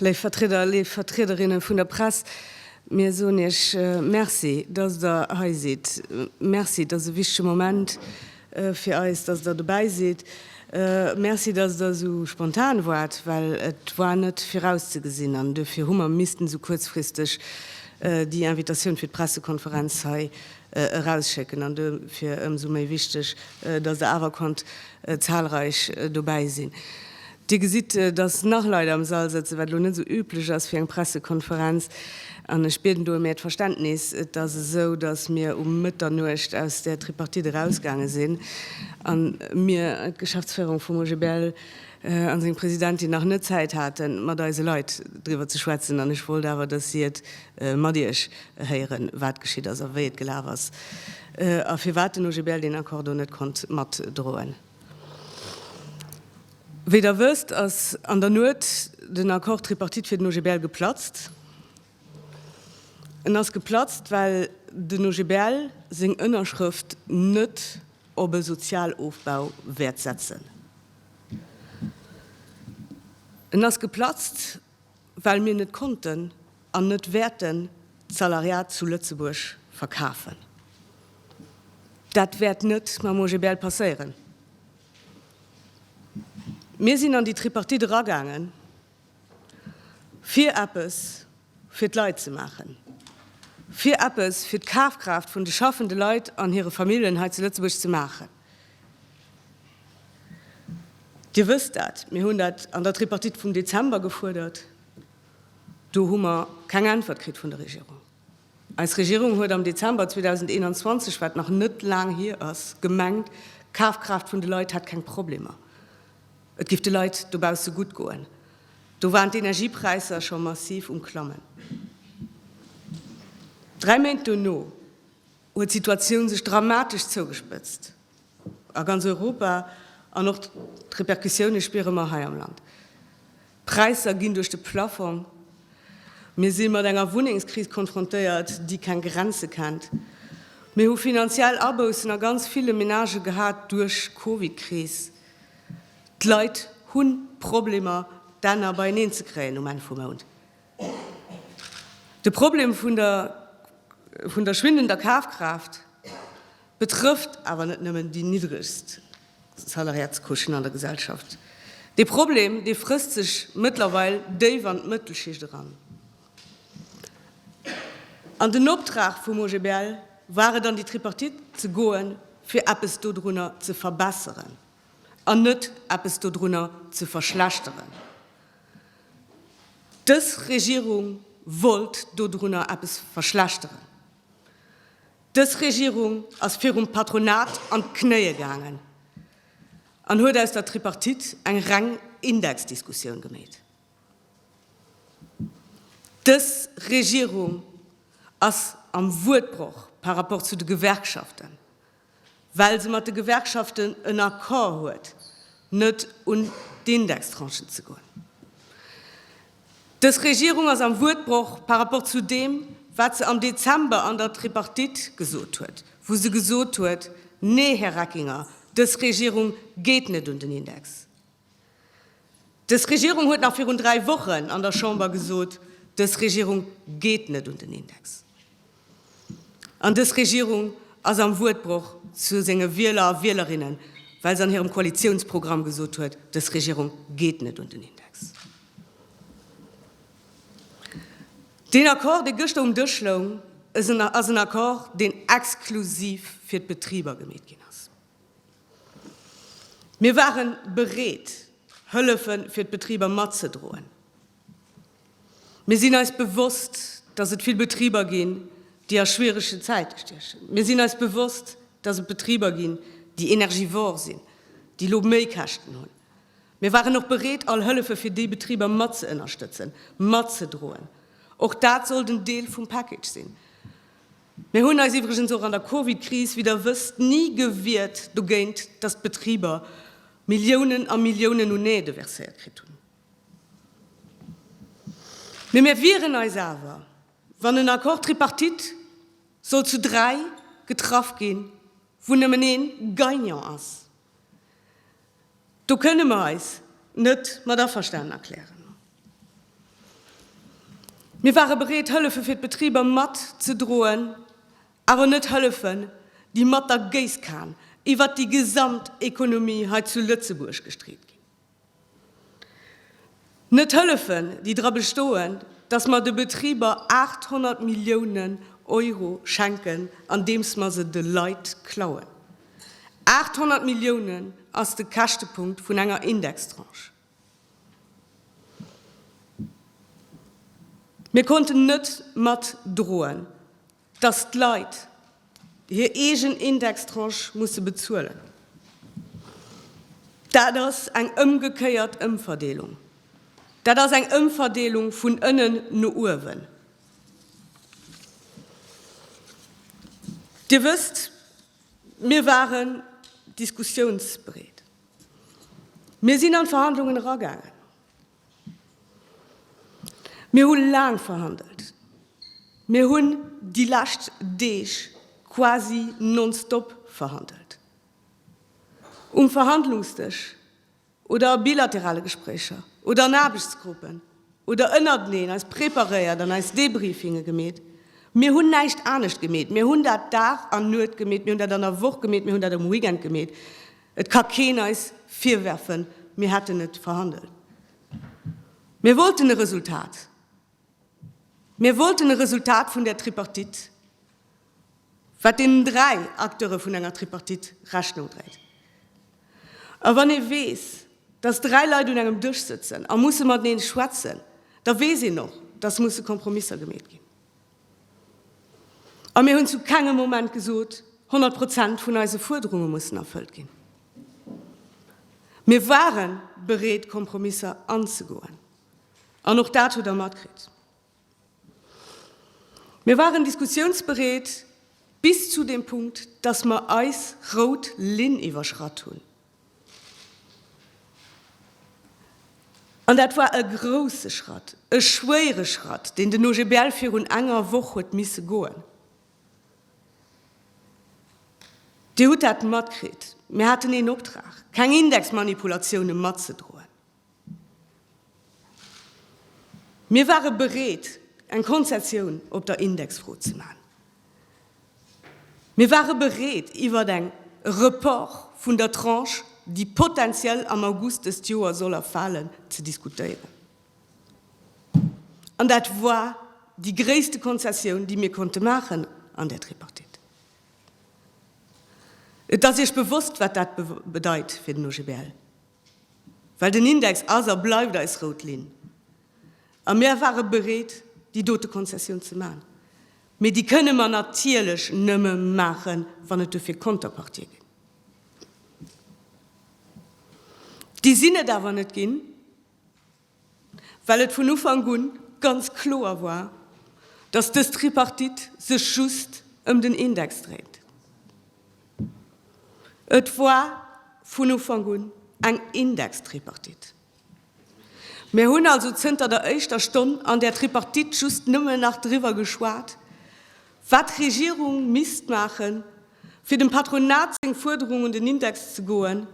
Léif Vertrieder, léif Vertriederinne vun der Press, mir soen Iech Merci, dass Der hei sidd. Merci, dass e wichtege Moment, fir eis, dass Der dobäi sidd. Merci, dass Der esou spontan waart, well et war net virauszegesinn an duerfir hu mer missten esou kuerzfristeg déi Invitatioun fir d'Pressekonferenz hei erausschécken. An duerfir ëmsou méi wichteg, dass Der awer konnt zahlreich dobäi sinn. Dir gesitt, dass nach Leit am Sall sëtzen, wat elo net esou üblech ass fir eng Pressekonferenz. An ech bieden do ëm Äert Verständnis. Et ass esou, dass mir um Mëtternuecht aus där Tripartite erausgaange sinn a mir, d'Geschäftsféierung vum OGBL a seng Presidentin, nach net Zäit hate mat eise Leit driwwer ze schwätzen. An ech wollt awer, dass si et mat Iech héieren, wat geschitt ass a wéi et gelaf ass a firwat den OGBL deen Accord do net konnt matdroen. Wéi Der wësst, ass an der Nuet den Accord tripartite fir den OGBL geplatzt. En ass geplatzt, well den OGBL seng Ënnerschrëft net op e Sozialofbau wäert setzen. En ass geplatzt, well mir net konnten an net wäerten d'Salariat zu Lëtzebuerg verkafen. Dat wäert net mam OGBL passéieren. Mir sinn an déi Tripartite eragaangen, fir eppes fir d'Leit ze maachen, fir eppes fir d'Kafkraaft vun de schaffende Leit an hire Familljen hei zu Lëtzebuerg ze maachen. Dir wësst dat, mir hunn dat an der Tripartite vum Dezember gefuerdert. Do hu mer keng Äntwert kritt vun der Regierung. Eis Regierung huet am Dezember 2021, wat nach net laang hier ass, gemengt, d'Kafkraaft vun de Leit hätt keng Problemer, et géif de Leit dobausse gutt goen. Do waren d'Energiepräisser scho massiv um Klammen. Dräi Méint dono, huet d'Situatioun sech dramatesch zougespëtzt a ganz Europa an och d'Repercussioune spiere mer hei am Land. D'Präisser ginn duerch de Plaffong. Mir si mat enger Wunnengskris konfrontéiert, déi keng Grenze kennt. Mir hu finanziell Aboussen a ganz ville Menagë gehat duerch Covid-Kris. D'Leit hu Problemer, d'Enner beieneen ze kréien um Enn vum Mount. De Problem vun der vun der schwindender Kafkraaft betrëfft awer net nëmmen déi niddregst Salariatscouchen an der Gesellschaft. Dee Problem, dee frësst sech mëttlerweil déif an d'Mëttelschicht eran. An den Optrag vum OGBL war et, an déi Tripartite ze goen, fir eppes dodrunner ze verbesseren an net eppes dodrunner ze verschlechteren. Dës Regierung wollt dodrunner eppes verschlechteren. Dës Regierung ass virum Patronat an d'Knéie gaangen an huet aus der Tripartite eng reng Indexdiskussioun gemeet. Dës Regierung ass am Wuertbroch par rapport zu de Gewerkschaften. well se mat de Gewerkschaften en Accord huet, net un d'Indextranchen ze goen. Dës Regierung ass am Wuertbroch par rapport zu deem, wat se am Dezember an der Tripartite gesot huet, wou se gesot huet, Nee, Här Reckinger, dës Regierung geet net un den Index. Dës Regierung huet nach virun dräi Wochen an der Chamber gesot, Dës Regierung geet net un den Index. An dës Regierung ass am Wuertbroch zu senge Wieler a Wielerinnen, well se an hirem Koalitiounsprogramm gesot huet, Dës Regierung geet net un den Index. Deen Accord, dee gëschter um Dësch loung, ass en Accord, deen exklusiv fir d'Betriber gemeet ginn ass. Mir ware bereet, Hëllefe fir d'Betriber matzedroen. Mir sinn eis bewosst, dass et vill Betriber ginn, déi a schwierege Zäite stiechen. Mir sinn eis bewosst, dass et Betriber ginn, déi energivore sinn, déi elo Méikäschten hunn. Mir waren och bereet, all Hëllefe fir déi Betriber matzëënnerstëtzen, matzedroen. Och dat soll den Deel vum Package sinn. Mir hunn eis iwwregens och an der Covid-Kris, wéi Der wësst, ni gewiert dogéint, dass d'Betriber Milliounen a Milliounen un Aide verséiert kritt hunn. Mee mir wieren eis awer, wann en Accord tripartite sollt zu dräi getraff ginn, wou nëmmen ee Gagnant ass, Do kënne mer eis net mat averstanen erklären. Mir ware bereet, Hëllefe fir d'Betriber matzedroen, awer net Hëllefen, déi mat der Géisskan iwwert déi gesamt Ekonomie hei zu Lëtzebuerg gestreet ginn. Net hëllefen, déi dra bestoen, datt mer de Betriber 800 Milliounen Euro schenken, andeems mer se de Leit klauen. 800 Milliounen ass de Käschtepunkt vun enger Indextranche. Mir konnten net matdroen, Dass d'Leit hir eegen Indextranche musse bezuelen, dat ass eng ëmgekéiert Ëmverdeelung. Dat ass eng Ëmverdeelung vun ënnen no uewen. Dir wësst, mir waren diskussiounsbereet. Mir sinn an d'Verhandlungen eragaangen. Mir hu laang verhandelt. Mir hunn déi lescht Deeg quasi non-stop verhandelt. Um Verhandlungsdësch oder a bilaterale Gespréicher oder an Aarbechtsgruppen oder ënnerteneen eis preparéiert an eis Debriefinge gemeet. Mir hunn näischt anescht gemeet. Mir hunn dat Dag an Nuet gemeet, mir hunn dat an der Woch gemeet, mir hunn dat um Weekend gemeet. Et ka keen eis virwerfen, mir hätten net verhandelt. Mir wollten e Resultat. Mir wollten e Resultat vun där Tripartite, wat deenen dräi Acteure vun enger Tripartite Rechnung dréit. A wann ee weess, dass dräi Leit un engem Dësch sëtzen a musse matenee schwätzen, da weess een och, dass musse Kompromisser gemeet ginn. A mir hunn zu kengem Moment gesot, 100 Prozent vun eise Fuerderunge mussen erfëllt ginn. Mir ware bereet, Kompromisser anzegoen, an och dat hutt Der matkritt. Mir waren diskussiounsbereet bis zu deem Punkt, dass mer eis rout Linn iwwerschratt hunn. An dat war e grouse Schratt, e schwéiere Schratt, deen den OGBL virun enger Woch huet misse goen. Dir hutt dat matkritt, mir haten een Optrag, keng Indexmanipulatioune matzedroen. Mir ware bereet, eng Konzessioun op der Indexfro ze maachen. Mir ware bereet, iwwert eng Report vun der Tranche, déi potentiell am August dëst Joer soll erfalen, ze diskutéieren. An dat war déi gréisste Konzessioun, déi mir konnte maachen an där Tripartite. Et ass Iech bewosst, wat dat bedeit fir den OGBL. Well den Index ass a bleift eis rout Linn. A mir ware bereet, déi dote Konzessioun ze maachen. Mee déi kënne mer natierlech nëmme maachen, wann et dofir Konterpartie ginn. Déi sinn et awer net ginn. well et vun Ufank un ganz kloer war, dass dës Tripartite sech just ëm den Index dréint. Et war vun Ufank un eng Indextripartite. Mir hunn also zënter der éischter Stonn an där Tripartite just nëmmen nach driwwer geschwat, wat d'Regierung misst maachen, fir dem Patronat seng Fuerderung un den Index ze goen,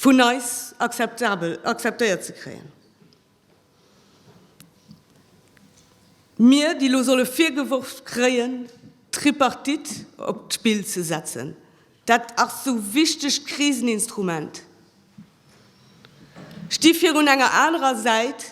vun eis akzeptabel, akzeptéiert ze kréien, mir déi elo solle virgeworf kréien d'Tripartite op d'Spill ze setzen, dat ass sou wichteg Kriseninstrument, sti virun enger anerer Säit,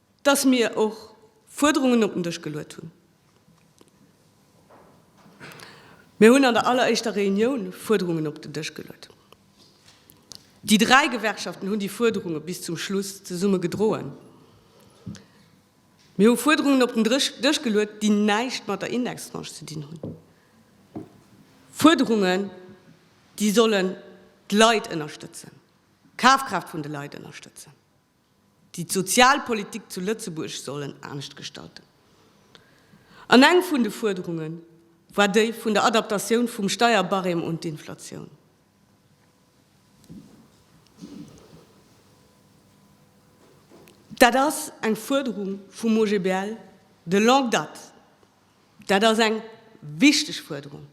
dass mir och Fuerderungen op den Dësch geluet hunn. Mir hunn an der alleréischter Reunioun Fuerderungen op den Dësch geluet. Déi dräi Gewerkschaften hunn déi Fuerderunge bis zum Schluss zesumme gedroen. Mir hu Fuerderungen op den Dësch geluet, déi näischt mat der Indextranche ze dinn hunn, Fuerderungen, déi sollen d'Leit ënnerstëtzen, d'Kafkraaft vun de Leit ënnerstëtzen. déi d'Sozialpolitik zu Lëtzebuerg sollen anescht gestalten. An eng vun de Fuerderunge war déi vun der Adaptatioun vum Steierbarème un d'Inflatioun. Dat ass eng Fuerderung vum OGBL de longue date. Dat ass eng wichteg Fuerderung.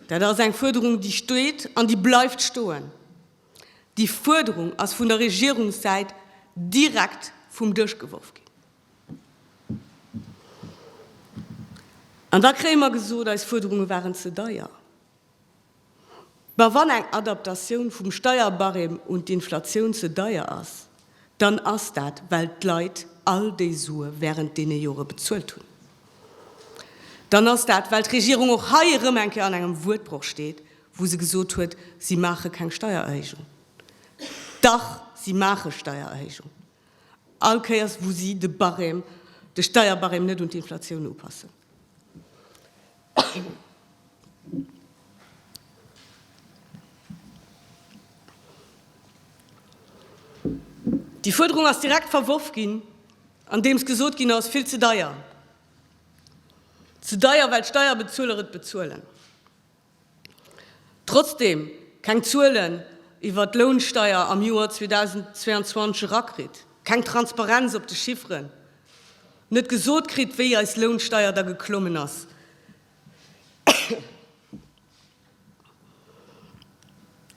Dat ass eng Fuerderung, déi steet an déi bleift stoen. Déi Fuerderung ass vun der Regierungssäit direkt vum Dësch geworf ginn. An da kréie mer gesot, eis Fuerderunge waren ze deier. Ma wann eng Adaptatioun vum Steierbarème un d'Inflatioun ze deier ass, dann ass dat, well d'Leit all déi Sue während deene Jore bezuelt hunn, dann ass dat, well d'Regierung och hei erëm eng Kéier an engem Wuertbroch steet, wou se gesot huet, si maache keng Steiererhéijung. Dach, si maache Steiererhéijung, all Kéiers wou si de Barème, de Steierbarème net un d'Inflatioun upassen. Déi Fuerderung ass direkt verworf ginn, andeems gesot ginn ass, vill ze deier, ze deier, well d'Steierbezueler et bezuelen. Trotzdem keng Zuelen iwwert d'Lounsteier am Joer 2022 erakritt, keng Transparenz op de Chifferen, net gesot kritt, wéi eis Lounsteier da geklommen ass.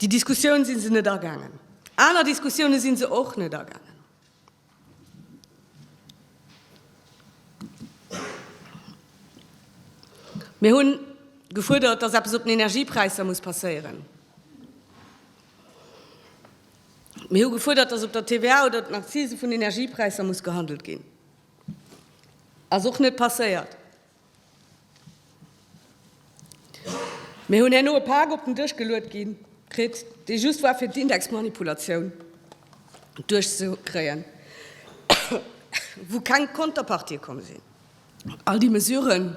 Déi Diskussioun si se net agaangen. Aner Diskussioune si se och net agaangen. Mir hunn gefuerdert, dass eppes op den Energiepräisser muss passéieren. Mir hu gefuerdert, datt op der TVA oder den Accisen vun Energiepräisser muss gehandelt ginn. Ass och net passéiert. Mir hunn herno e Pak op den Dësch geluet gi kritt, dee just war fir d'Indexmanipulatioun duerchzekréien, wou keng Konterpartie komm sinn. All déi Mesuren,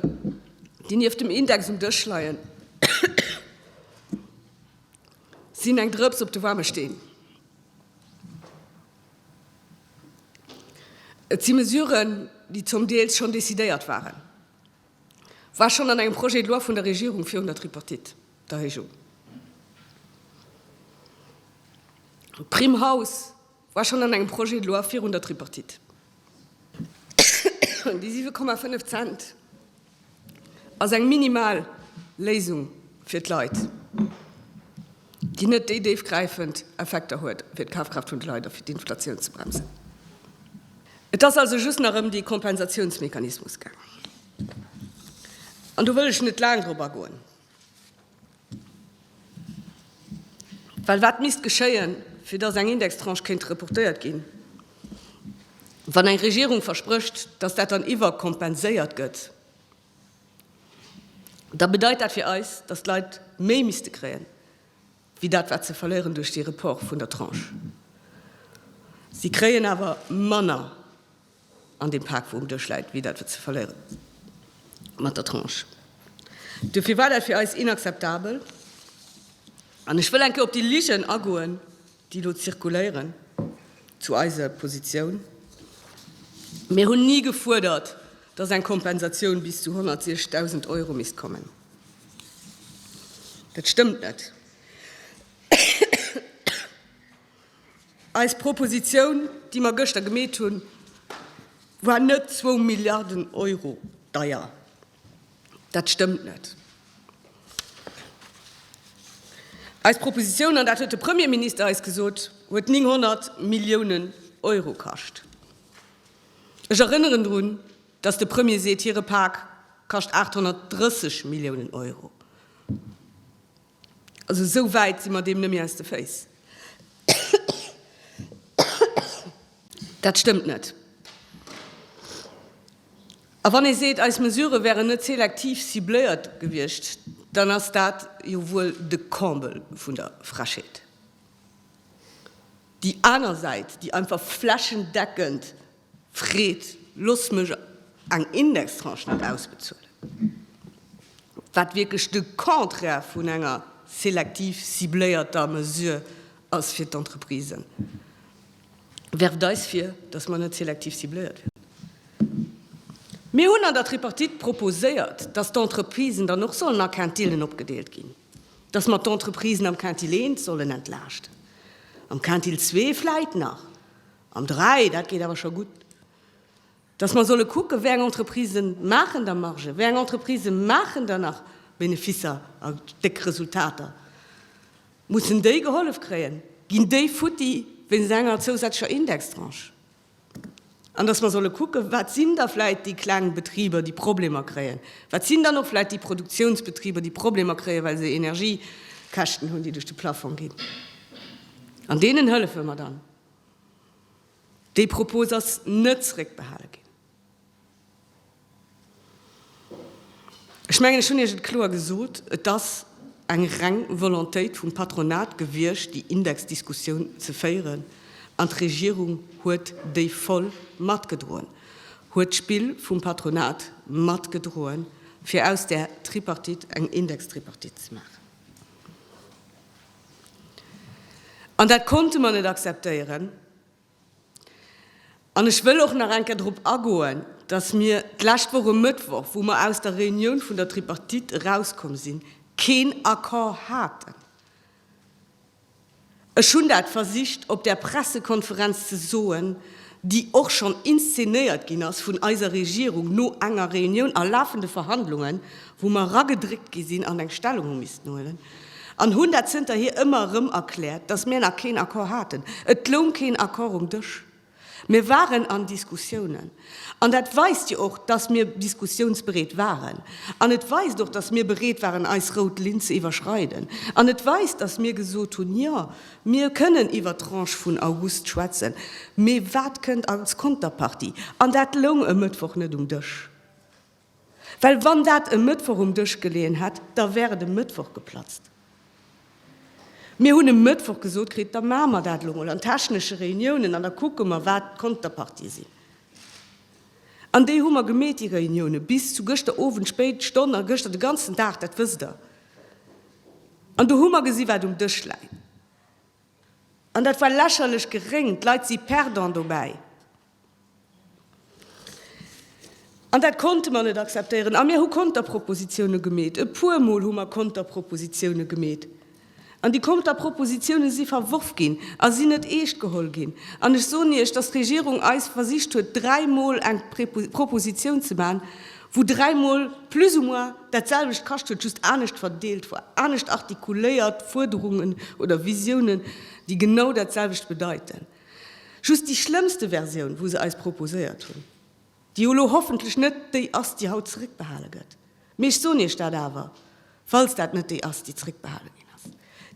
déi nieft dem Index um Dësch leien, Sinn eng Drëps op de waarme Steen. Et si Mesuren, déi zum Deels schonn decidéiert waren. War schonn an engem Projet de loi vun der Regierung virun der Tripartite, d'Erhéijung. D'Primm Haus. War schonn an engem Projet de loi virun der Tripartite. Déi 7,5 Cent ass eng minimal Léisung fir d'Leit, déi net déi déifgräifend Effekter huet fir d'Kafkraaft vun de Leit a fir d'Inflatioun ze bremsen. Et ass also just nach ëm dee Kompensatiounsmechanismus gaangen. An do wëll ech net laang drop agoen. Well wat misst geschéien, fir datt eng Indextranche kéint reportéiert ginn? Wann eng Regierung versprécht, datt dat dann iwwerkompenséiert gëtt, da bedeit dat fir eis, datt d'Leit méi misste kréien, wéi dat wat se verléieren duerch dee Report vun der Tranche. Si kréien awer manner An deem Pak, wou um Dësch läit, wéi dat, wat se verléieren mat der Tranche. Duerfir war dat fir eis inakzeptabel. An ech wëll eng Kéier op déi Ligen agoen, déi elo zirkuléieren zu eiser Positioun. Mir hunn ni gefuerdert, dass eng Kompensatioun bis zu 160.000 Euro misst kommen. Dat stëmmt net. Eis Proposition, déi mer gëschter gemeet hunn, war net zwou Milliarden Euro deier. Dat stëmmt net. Eis Proposition, an dat huet de Premierminister eis gesot, huet 900 Milliounen Euro kascht. Ech erënneren drun, dass de Premier seet, hire Pak kascht 830 Milliounen Euro. Also esou wäit si mer deem net méi aus de Féiss. Dat stëmmt net. A wann ee seet, eis Mesurë wären net selektiv cibléiert gewiescht, dann ass dat jo wuel de Comble vun der Frechheet. Déi aner Säit, déi einfach flächendeckend, Fred, Looss mech eng Indextranche net ausbezuelen, wat wierklech de Contraire vun enger selektiv cibléierter Mesure ass fir d'Entreprisen. Werft eis vir, datt mer net selektiv cibléiert wieren. Mir hunn an der Tripartite proposéiert, datt d'Entreprisen dann och sollen a Quintillen opgedeelt ginn, datt mer d'Entreprisen am Quintil I sollen entlaaschten, am Quintil ii vläit nach, An dräi, dat geet awer scho gutt, dass mer solle kucken, wéi eng Entreprisë maachen da Margen, wéi eng Entreprisë maachen da nach Beneficer a déck Resultater. Mussen déi gehollef kréien? Ginn déi futti wéinst enger zousätzlecher Indextranche? An dass mer solle kucken, wat sinn da vläicht déi kleng Betriber, déi Problemer kréien? Wat sinn dann och vläicht déi Produktiounsbetriber, déi Problemer kréien, well se Energiekäschten hunn, déi duerch de Plafong ginn? An deenen hëllefe mer dann. Déi Propos ass net zréckbehale ginn. Ech mengen, ech hunn Iech et kloer gesot, Et ass eng reng Volontéit vum Patronat gewiescht, déi Indexdiskussioun ze féieren, an d'Regierung huet déi voll matgedroen, huet d'Spill vum Patronat matgedroen, fir aus där Tripartite eng Indextripartite ze maachen. An dat konnte mer net akzeptéieren. An ech wëll och nach eng Kéier drop agoen, dass mir d'lescht Woch e Mëttwoch, wou mer aus der Reunioun vun der Tripartite erauskomm sinn, keen Accord haten. Ech hunn dat versicht op där Pressekonferenz ze soen, déi och schonn inszenéiert ginn ass vun eiser Regierung no enger Reunioun a lafende Verhandlungen, wou mer eragedréckt gi sinn an eng Stellung hu missten huelen, an hunn dat zënterhier ëmmer erëm erkläert, dass mir nach keen Accord haten. Et loung keen Accord um Dësch. Mir waren an Diskussiounen. An dat weist jo och, dass mir diskussiounsbereet waren. An et weist och, dass mir bereet waren, eis rout Linn ze iwwerschreiden. An et weist, dass mir gesot hunn, Jo, mir kënnen iwwer d'Tranche vun August schwätzen, mee wat kënnt als Konterpartie? An dat loung e Mëttwoch net um Dësch. Well wann dat e Mëttwoch um Dësch geleeën hätt, da wär et e Mëttwoch geplatzt. Mir hunn e Mëttwoch gesot kritt, da maache mer dat elo mol an technesche Reuniounen an da kucke mer, wat d'Konterpartie sinn. An déi hu mer gemeet, déi Reuniounen, bis zu gëschter Owend spéit Stonn a gëschter de ganzen Dag, dat wësst Der. An do hu mer gesi wat um Dësch läit. An dat war lächerlech geréng. D'Leit si perdant dobäi. An dat konnte mer net akzeptéieren. A mir hu Konterpropositione gemeet. E puermol hu mer Konterpropositione gemeet. An déi Konterpropositione si verworf ginn a sinn net eescht geholl ginn. An ech soen Iech, dass d'Regierung eis versicht huet, dräimol eng Proposition ze maachen, wou dräimol plus ou moins dat selwecht kascht huet, just anescht verdeelt war, anescht artikuléiert, Fuerderungen oder Visionen, déi genau dat selwecht bedeiten. Just déi schlëmmste Versioun, wou se eis proposéiert hunn, déi jo elo hoffentlech net déi ass, déi haut zeréckbehale gëtt, mee ech soen Iech dat awer, falls dat net déi ass, déi zeréckbehale ginn ass,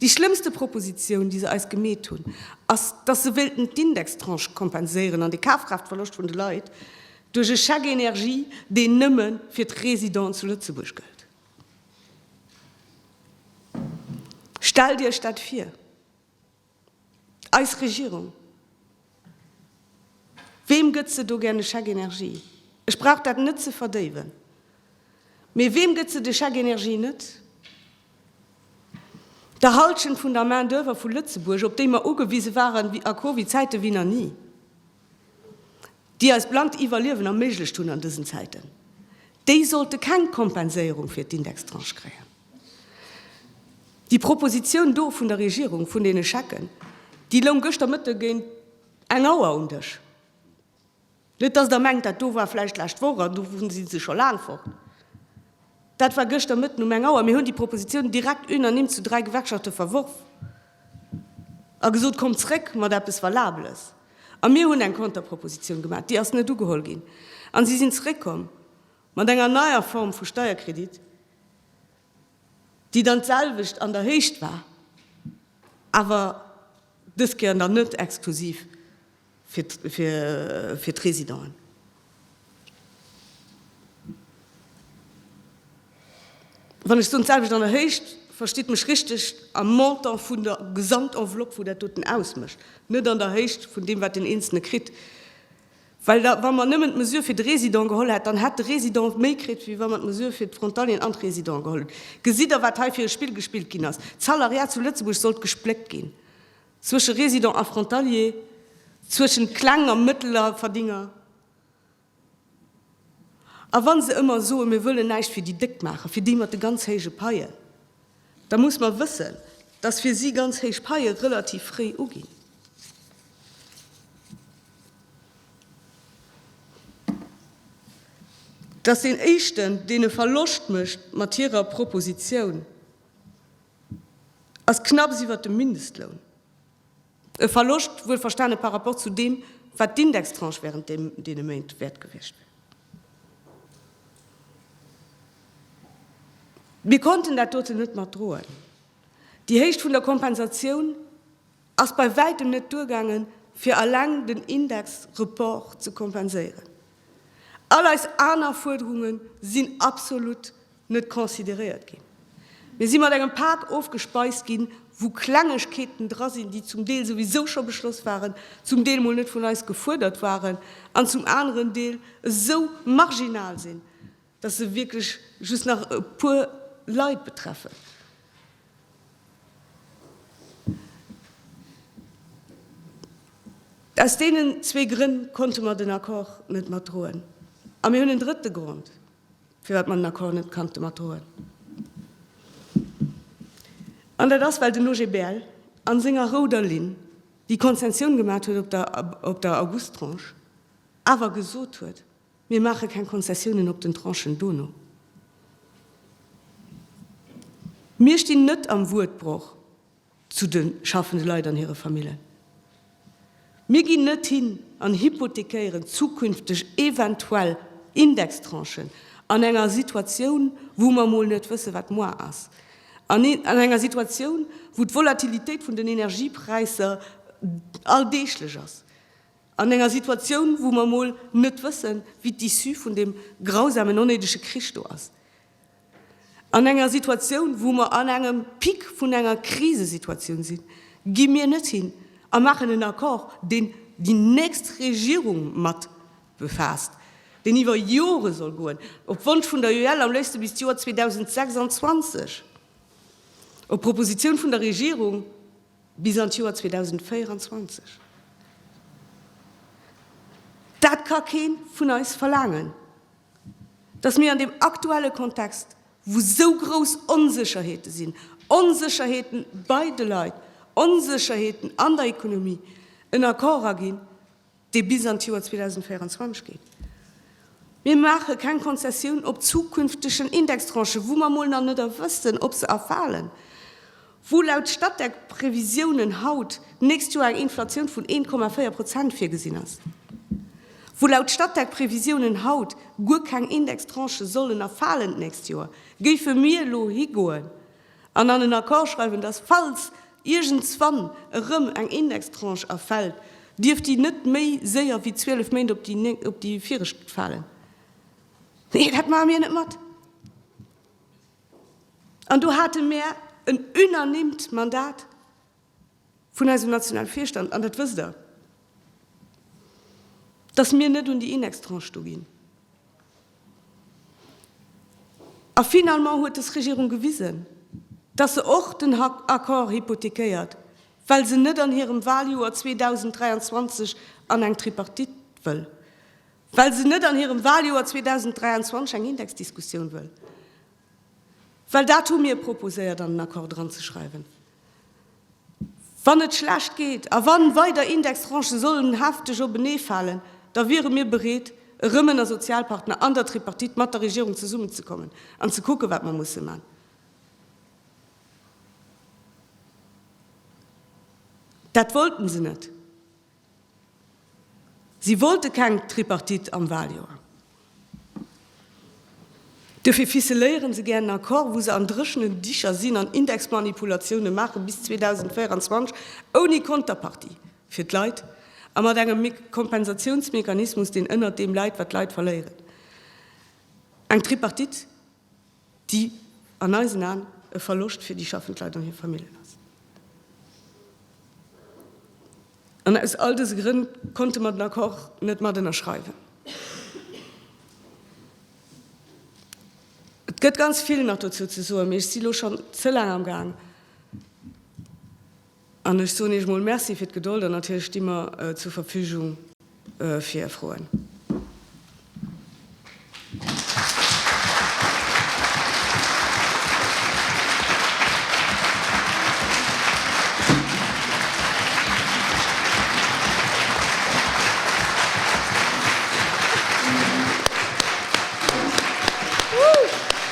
déi schlëmmste Proposition, déi se eis gemeet hunn, ass, dass se wéilten d'Indextranche kompenséieren an de Kafkraaftverloscht vun de Leit duerch e Chèque énergie, deen nëmme fir d'Résidenten zu Lëtzebuerg gëllt. Stellt Iech dat vir! Eis Regierung, weem gëtt se do gär e Chèque énergie? Ech brauch dat net ze verdéiwen, mee weem gëtt se de Chèque énergie net? Der Hallschent vun der Main-d'oeuvre vu Lëtzebuerg, op déi mer ugewise waren a Covid-Zäite wéi nach ni. déi eis blankt Iwwerliewen erméiglecht hunn an dësen Zäiten, déi sollte keng Kompenséierung fir d'Indextranche kréien. Déi Proposition do vun der Regierung, vun deene Schecken, déi loung gëschter Mëtte géint eng Auer um Dësch. Net dass Der mengt, dat do war vläicht d'lescht Woch an do si se scho laang fort. Dat war gëschter Mëtten um eng Auer. Mir hunn déi Proposition direkt unanime zu dräi Gewerkschafte verworf. A gesot, Kommt zréck mat eppes Valabeles! A mir hunn eng Konterpropositioun gemaach, déi ass net ugeholl ginn. A si sinn zréckkomm mat enger neier Form vu Steierkredit, déi dann d'selwecht an der Héicht war, awer dës Kéier dann net exklusiv fir d'Résidenten. Wann ech soen d'selwecht an der Héicht, verstitt mech richteg, am Montant vun der Gesamtenveloppe wou dat doten ausmécht, net an der Héicht vun deem wat den Eenzelne kritt. Well da wa mer nëmmen d'Mesure fir de Résident geholl hätt, dann hätt de Résident méi kritt wéi wa mer d'Mesure fir d'Frontalieren an d'Résidenten geholl hunn. Gesitt Der wat hei fir e Spill gespillt ginn ass? D'Salariat zu Lëtzebuerg sollt gespléckt ginn. Zwësche Résidents a Frontaliers, zwëschen kleng a mëttler Verdénger, a wann se ëmmer soen, mir wëllen näischt fir déi Déck maachen, fir déi mat de ganz héije Paien, da muss mer wëssen, dass fir si ganz héich Paie relativ fréi uginn. Dass deen éischten, deen e Verloscht mécht mat hirer Proposition, ass knapps iwwert dem Mindestloun, e Verloscht wuel verstane par rapport zu deem, wat d'Indextranche während deene Méint wäert gewiescht wär. Mir konnten dat doten net mat droen. Déi Héicht vun der Kompensatioun ass bei wäitem net duergaangen, fir eleng den Indexreport ze kompenséieren. All eis aner Fuerderunge sinn absolut net consideréiert ginn. Mir si mat engem Pak ofgespeist ginn, wou Klengegkeeten dra sinn, déi zum Deel souwisou scho beschloss waren, zum Deel mol net vun eis gefuerdert waren an zum aneren Deel esou marginal sinn, dass se wierklech just nach e puer Leit betreffen. Aus deenen zwee Grënn konnte mer den Accord net matdroen. A mir hunn en drëtte Grond. Firwat mer den Accord net kannte matdroen. An dat ass, well den OGBL a senger rouder Linn, déi Konzentioun gemaat huet op der, op der Augusttranche, awer gesot huet, Mir maache keng Konzessiounen op den Tranchen dono. Mir stinn net am Wuertbroch. zu de schaffende Leit an hire Famillen. Mir ginn net hin an hypothekéieren zukünfteg eventuell Indextranchen an enger Situatioun, wou mer emol net wëssen, wat moar ass, an enger Situatioun, wou d'Volatilitéit vun den Energiepräisser alldeeglech ass, an enger Situatioun, wou mer emol net wëssen, wéi d'Issue vun deem grausamen, onnéidege Krich do ass. An enger Situatioun, wou mer an engem Pic vun enger Krisesituatioun sinn, gi mir net hin a maachen en Accord, deen déi nächst Regierung mat befaasst, deen iwwer Jore soll goen, op Wonsch vun der UEL am léifste bis d'Joer 2026, op Propositioun vun der Regierung bis an d'Joer 2024. Dat ka kee vun eis verlaangen. dass mir an deem aktuelle Kontext, wou esou grouss Onsécherheete sinn, Onsécherheete bei de Leit, Onsécherheeten an der Ekonomie, en Accord aginn, dee bis an d'Joer 2024 geet. Mir maache keng Konzessioun op zukünftegen Indextranchen, wou mer emol nach net wëssen, ob se erfalen. wou laut Statec Previsiounen haut d'nächst Joer eng Inflatioun vun 1,4 Prozent virgesinn ass, wou laut Statec Previsiounen haut guer keng Indextranchë sollen erfalen d'nächst Joer, géife mir elo higoen an an en Accord schreiwen, dass falls iergendswann erëm eng Indextranche erfält, dierft déi net méi séier wéi 12 Méint op déi op déi viregt falen? Nee, dat maache mir net mat. An do hate mär en unanimt Mandat vun eisem nationale Virstand, an dat wësst Der, dass mir net un déi Indextranche do ginn. A finalement huet des Regierung gewisen, dass se och den Accord hypothéquéiert, well se net an hirem Wahljoer 2023 an eng Tripartite wëll. Well se net an hirem Wahljoer 2023 eng Indexdiskussioun wëll. Well dat hu mir proposéiert an den Accord dranzeschreiwen. Wann et schlecht geet a wann weider Indextranchë sollen hefteg openee falen, da wiere mir bereet, erëm ënner Sozialpartner an der Tripartite mat der Regierung zesummenzekommen an ze kucken, wat mer musse man. Dat wollten se net. Si wollte keng Tripartite am Waljoer. Duerfir ficeléieren se gär en Accord, wou se an dréchenen Dicher sinn an Indexmanipulatiounen maachen bis 2024, ouni Konterpartie fir d'Leit a mat engem Kompensatiounsmechanismus, deen ënnert deem läit, wat d'Leit verléieren. Eng Tripartite? déi an eisen Aen e Verloscht fir déi schaffend Leit an hir Famillen ass. An aus all dëse Grënn konnte mer den Accord net mat ënnerschreiwen. Et gëtt ganz vill nach dozou ze soen, mee ech si lo schonn ze laang am Gaang. An ech soen Iech emol Merci fir d'Gedold an natierlech sti mer zur Verfügung fir Är Froen.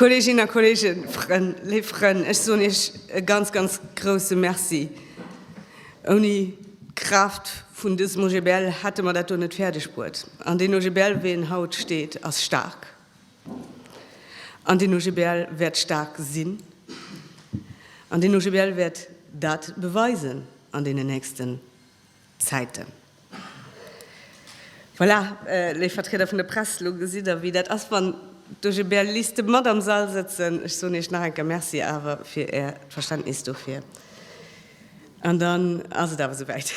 Kolleginnen a Kollegen, Frënn, léif Frënn, ech soen Iech e ganz, ganz grouse Merci. Ouni d'Kraaft vun dësem OGBL hätte mer dat do net fäerdeg bruet. An deen OGBL, wéi en haut steet, ass staark. An deen OGBL wäert staark sinn. An deen OGBL wäert dat beweisen an deenen nächsten Zäiten. Voilà, léif Vertrieder vun der Press, elo gesitt Der, wéi dat ass, wann duerch e bel Liste mat am Sall sëtzen. Ech soen Iech nach eng Kéier Merci awer fir Äert Verständnis dofir. An dann ass et awer esouwäit.